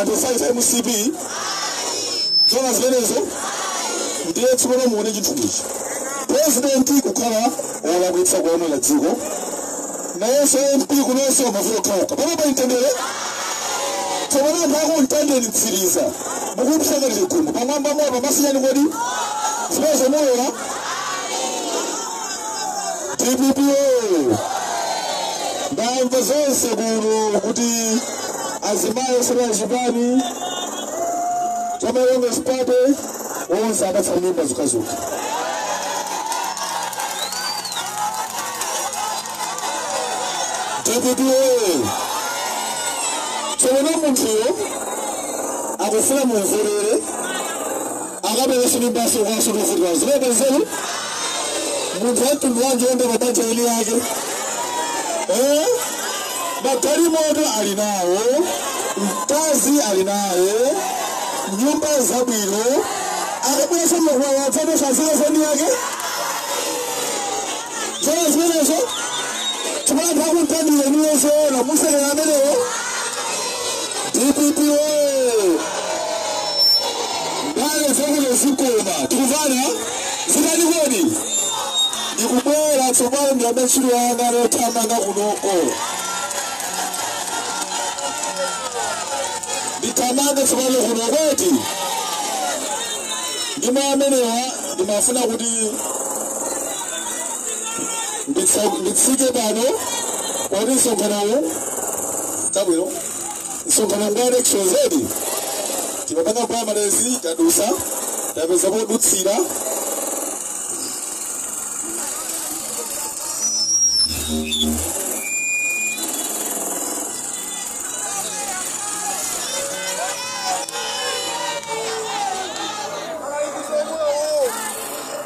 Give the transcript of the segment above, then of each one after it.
anthu 5 mcp zona zimenezo ndiye tsopano muone chinthu ichi purezidenti kukhala wolakwitsa kulamulira dziko nayenso mp kunonso mavuto okhaokha pano pa mtendere tsopano anthu aku mtendere mtsiriza mukumshakalire gumbo pamwamba moto masinyani kodi zimenezo mulola dpp oyo ndamva zonse kuno kuti azimayi osera chipani chamalongo sipate onse apatsa mimba zokhazokha dpp oyo tsopano munthuyo akufuna mumverere akabwerenso mimbanso kwanso kuvutika zilibe nzeru munthu wamtundu wanji wonda mabanja a eni ake Eh? magalimoto ali nawo mkazi ali naye nyumba zabwino akabwerenso mmakwaya atsato za eni ake Zoona zimenezo chifukwa anthu aku mtandire inuyo zoona musekera amenewo dpp woye ndale zakuno zikukoma tikumvana chikati kodi ndikubwera tsopano ndi mshiro wanga lothamanga kunoko ndithamanga tsopano kunoko eti ndi mawu amenewa ndimafuna kuti Nditsa- nditsike pano kodi msonkhanowo tabwino msonkhano ngwa election zedi timapanga primaries tadusa tapeza podutsira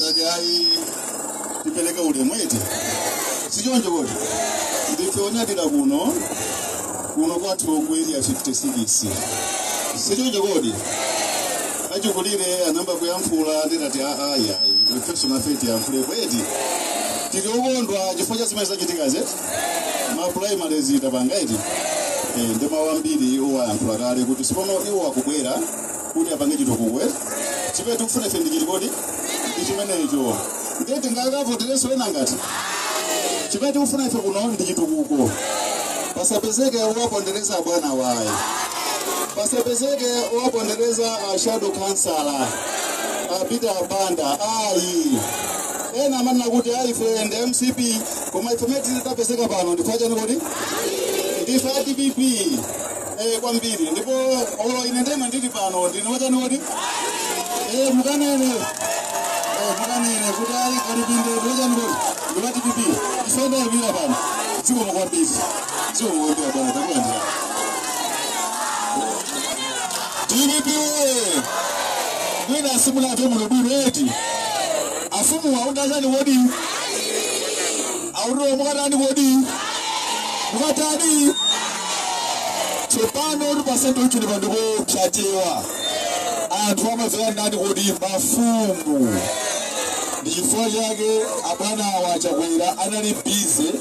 ngati ayi tipereke ulemu eti sichoncho kodi ndife onyadira kuno kuno kwathu ku area 56 sichoncho kodi achikulire anayamba kuyankhula ndinati aaya ifeso nafe tiyankhulepo eti tili okondwa chifukwa cha zimene zachitikazi ma primaries tapanga eti Eh, ndi mawu ambiri iwo ayankhula kale kuti tsopano iwo akubwera kuti apange chitukuko eti chimene tikufuna ife ndi chiti kodi ndi chimenecho ndiye tingakavoterenso ena ngati chimene tikufuna ife kuno ndi chitukuko pasapezeke wopondereza abwana Waya pasapezeke wopondereza a shadow councillor a Peter Banda ayi ena amanena kuti ayi ife ndi mcp koma ife mene tapezeka pano ndife achani kodi ndife a dpp eh, kwambiri ndipo olo ine ndema ndili pano ndine wachani kodi eh, mukanene eh, mukanene kuti ayi Kalipinde ndi wachani kodi ndi wa dpp isendayimira pano dziko mukwambiri dziko mukwambira bwana takulandira dpp mwina asimuna atomuno bwino eti afumu waundachani kodi Aulula mukatani kodi? Mukatani? Tsopano uri pasenti ichi ndi phwando cha Chewa. Anthu amadzera ndani kodi mafumu. Ndi chifukwa chake abwana awa achakwera anali bize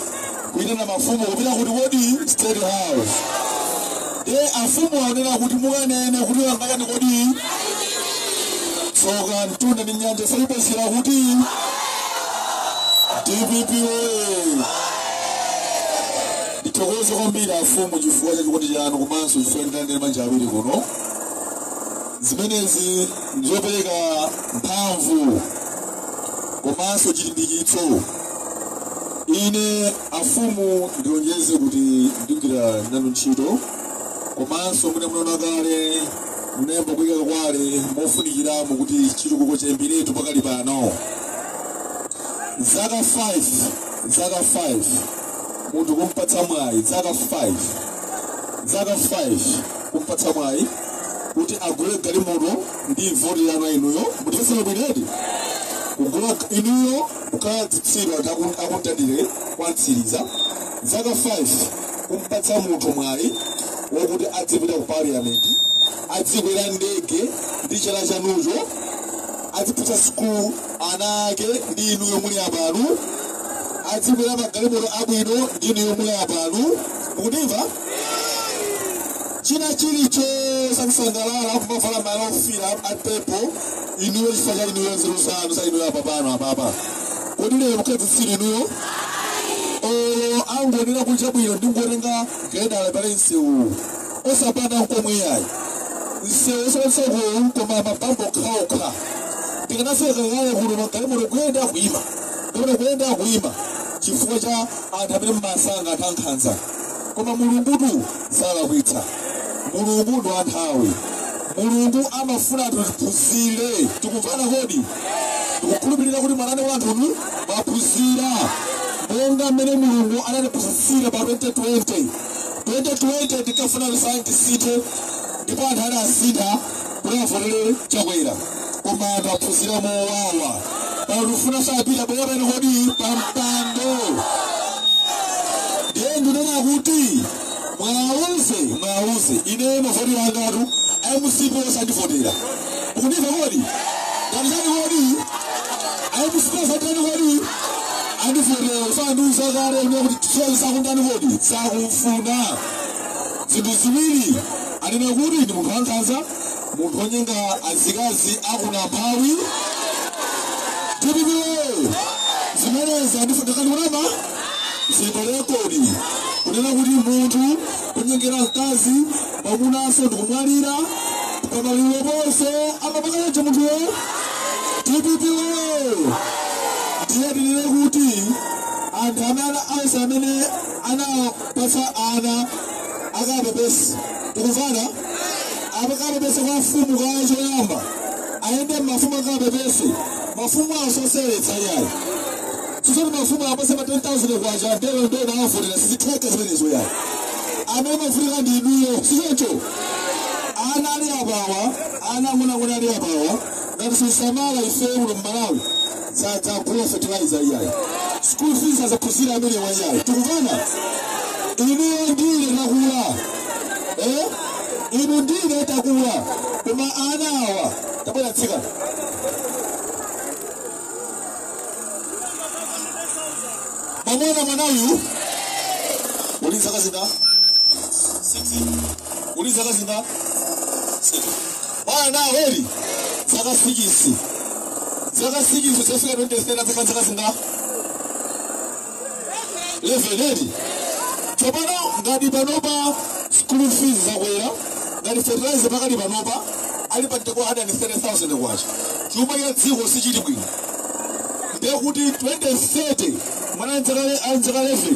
kuitana mafumu kupita kuti kodi state house. e afumu aonera kuti mukanene kuti wangachani kodi tsoka mtunda ndi nyanja saipitsira kuti dpp oye ndithokoze kwambiri afumu chifukwa cha chikondi chanu komanso chifukwa mwandilandira ndi manja awiri kuno zimenezi ndizopereka mphamvu komanso chilimbikitso ine afumu ndilonjeze kuti ndigwira nanu ntchito komanso monga munaona kale munayamba kuyika quarry mofunikiramo kuti chitukuko chiyambiretu pakali pano zaka 5 zaka 5 munthu kumpatsa mwayi zaka 5 zaka 5 kumpatsa mwayi kuti agule galimoto ndi voti yanu inuyo muli zitsiru bwino eti kugula inuyo kukhala zitsiru anthu aku- akutadire kwa Ntsiliza zaka 5 kumpatsa munthu mwayi wokuti adzipita ku parliament adzikwera ndege ndi chala chanucho adzipita sukulu ana ake ndi inuyo muli apano adzikwera magalimoto abwino ndi inuyo muli apano mukundimva china chilichonse akusangalala akumavala malaya ofiira apepo inuyo chifukwa cha inuyo nzeru zanu za inuyo apa pano apapa kodi lero mukhala zitsiru inuyo olo angonena kuti chabwino ndingotenga giledala apale msewu osapanga nkomwe ayi msewu osakonzeka koma mabampu okhaokha tikanafika kalekale kuno magalimoto kuyenda kuima kapena kuyenda kuima chifukwa cha anthu amene mmasankha anthu ankhanza koma mulungutu salakwitsa mulungu ndi wanthawi mulungu amafuna tiphunzire tikumvana kodi tikukhulupirira kuti mmanena anthunu mwaphunzira monga mmene mulungu anatiphunzitsira pa 2020 2020 tikafuna kuti tisinthe ndipo anthu anasintha President Chakwera koma anthu aphunzira mowawa pano tifuna asabwerenso kodi pampando ndiye ndinena kuti mwauze mwauze ine mavoti angatu mcp osandivotera ukundimva kodi ndani kodi mcp osandani kodi andivotera sandiuza kale kuti tisoni sakundani kodi sakumfuna zinthu ziwiri anena kuti ndi munthu wankhanza munthu wonyenga azikazi akuna mphawi DPP woyee zimenezi ndikukanika kunama ziperekodi kunena kuti munthu kunyengera mkazi mwamunaso ndikumwalira pamaliro ponse amapakanacho munthuyo DPP woyee ndiye tinene kuti anthu amene onse amene ana kupatsa ana akapepese tikumvana akapepese kwa mfumu kaye choyamba ayende mafumu akapepese mafumu asocheretsa yayi chisoni mafumu apatse ma 10000 kwacha ndiye ndi kuwavotera sizitheka zimenezo yayi amene amafunika ndi inuyo sichocho ana ali apawa ana ang'onoang'ono ali apawa ngati sitisamala ifeyo kuno mmalawi sadzagula fertilizer iyayi school fees sazaphunzira amenewa iyayi tikumvana inuyo ndi ine takula eh? inu ndi ine takula koma ana awa tabwera tsikana mwamuna mwanayu uli zaka zingati uli zaka zingati kwa ana a Hori zaka sikisi zaka sikisi pofika 2030 zaka zaka zingati leveni tsopano ngati panopa school fees zakwera ngati fertilizer pakali panopa ali pa mtengo wa 130,000 kwacha chuma cha dziko sichili bwino ndiye kuti 2030 mwana azakhale azakhale 11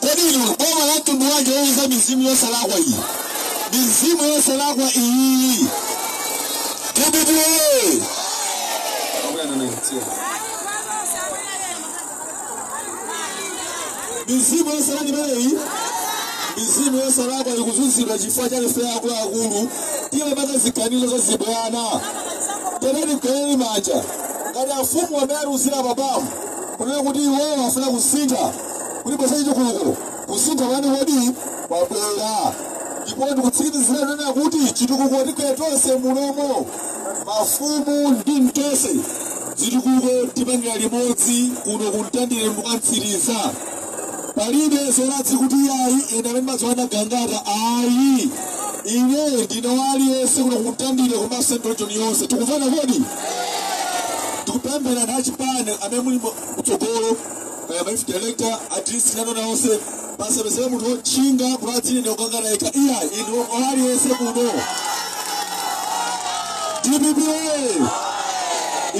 Kodi inu boma la mtundu wanji ozunza mizimu yosalakwa iyi? Mizimu yosalakwa iyi. Dpp oye! Mizimu yosalakwa imeneyi mizimu yosalakwa ikuzunzika chifukwa cha ife akuluakulu timapanga ziganizo zachibwana tiyeni tigwirane manja ngati afumu amene atiuzira apamu kunena kuti iwowo afuna kusintha kuti bweretsani chitukuko kusintha kwake kodi kwabwera ndipo ndikutsimikizira kunena kuti chitukuko tigwira tonse mulimo mafumu ndi tonse zitukuko tipangira limodzi kuno kumtandire mpaka Mtsiriza palibe zoladzi kuti ayi ena amene amadziwa ndi Gangata ayi ine ndine waliyense kuno kumtandire komanso m'dojoni yonse tikumvana kodi ndikupemphanso achipani amene muli mu- kutsogolo kaya mafumu director a district nano naonse pasapezeke munthu wotchinga kuti adzine kukangana yekha iyayi inu aliyense kuno dpp oye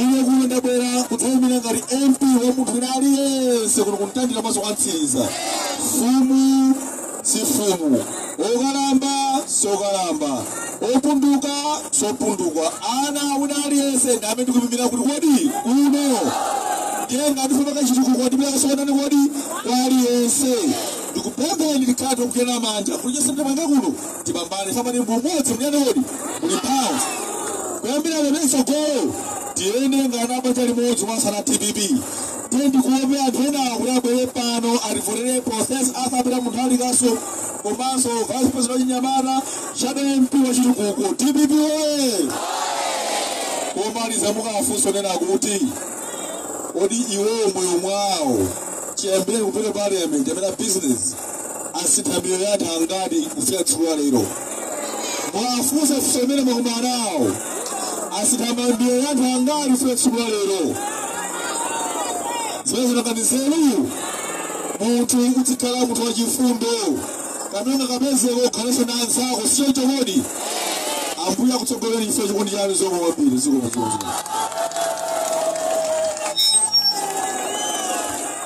ine kuno ndabwera kudzayimira ngati mp wa munthu wina aliyense kuno kuntandire komanso kwa mtsiriza mfumu si mfumu okalamba sokalamba opunduka sopunduka ana wina aliyense ndi amene ndikumuimira ku Likuni kuno ndiye ndikufuna chitukuko ndipita tikuonana kodi kwa aliyense ndikupempheni tikhale ogwirana manja kuti chonse tipanga kuno tipambane amati muumodzi timvane kodi muli mphamvu kuyambira pano mtsogolo tiyende ngati banja limodzi mwasana dpp Ine ndikaope anthu ena kuti abwere pano adzavotere Professor Arthur Peter Mutharika komanso Vice President wachinyamata Shadow MP wachitukuko DPP oye komaliza mukafunse kunena kuti kodi iwowo moyo mwawo chiyambireni kupita parliament amene business asintha miyoyo ya anthu angati kusiya tsiku la lero mwafunsa funso limene mwakumana nawo asintha miyoyo ya anthu angati kusiya tsiku la lero zimene zinanga ndi nzeru munthu udzikhala munthu wachifundo kapena kapeze kokhalanso na anzako siyo chokodi ambuye akutsogolereni chifukwa chikondi chanu zomwe kwambiri zikomo zikomo